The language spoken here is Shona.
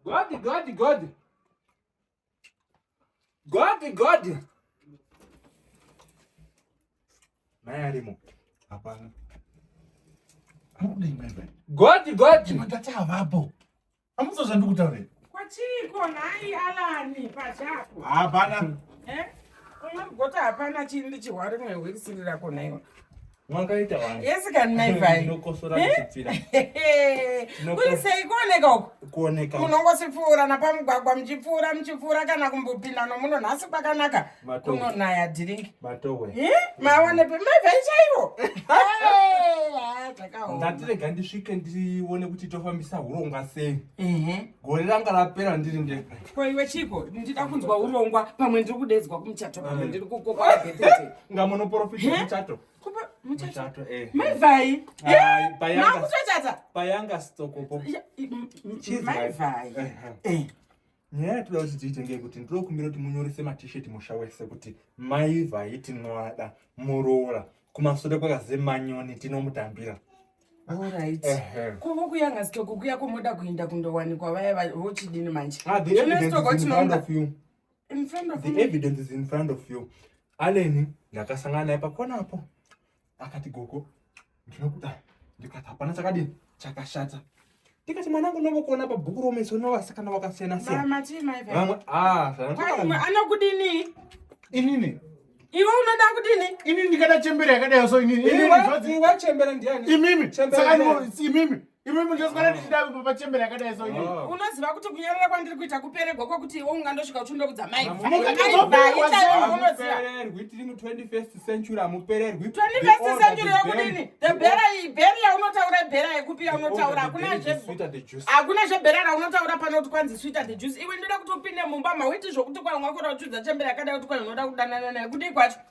Godi, godi, godi. Godi, godi. Naye alimo. Hapana. Godi, godi. Matata havapo. Amuzo zvanduku tave. Kwa chiko nai alani pa chako. Ah bana. Eh? Unga gota hapana chindi chihwari mwe hwiri siri rako naiwa. Mwanga ita wani. Yes kan nai vai. Ndokosora kuchipira. Kuri sei kuoneka uko? Kuoneka. Munongosipfuura na pamugwagwa mchipfuura mchipfuura kana kumbopinda no muno nhasi kwakanaka. kunonaya dhiringi maonepe mavhai chaivo ndatirega ndisvike ndione kuti tofambisa hurongwa sei gore ranga rapera ndiri ndega ko iwe chiko ndida kunzwa urongwa pamwe ndiri kudedzwa kumuchato pamwe ndiri kukoka nga munoprofita muchato muchato eh. maivai makutochata payanga stokopo maivai nyaya yatinoda kuti tiite ngeyekuti ndinoda kumbira kuti munyorise matisheti musha wese kuti mai vhai tinoada muroora kumasure kwakaze manyoni tinomutambira Alright. Kuvo kuya ngasitoko kuya kumoda kuinda kundowanikwa vaya vochidini manje. Ah, the evidence is in front of you. In front of the evidence is in front of you. Aleni ndakasangana naye pakona apo. akati gogo ndinokuda ndikati hapana chakadini chakashata ndikati mwana wangu novokuona pabhuku romeso novasikana vakasiyana siyanavamwe ah, anokudini inini iwe unoda kudini ini ndikada chembere yakadai so inini wachembera ndiani imimi saka imimi Imi munjoswera ndichida kupa pachembere yakadai so ini. Oh. Unoziva kuti kunyarara kwandiri kuita kuperegwa kwakuti iwe ungandosvika uchinda kudza mai. Mukapererwi tiri mu 21st century amupererwi. 21st century yokudini? The bera iyi beri yaunotaura bera yekupi yaunotaura hakuna zve hakuna zve bera raunotaura pano kuti kwanzi sweeter the juice. Iwe ndoda kuti upinde mumba mawiti zvokuti kwanga kwakora uchudza chembere yakadai kuti kwanga unoda kudanana naye kudii kwacho.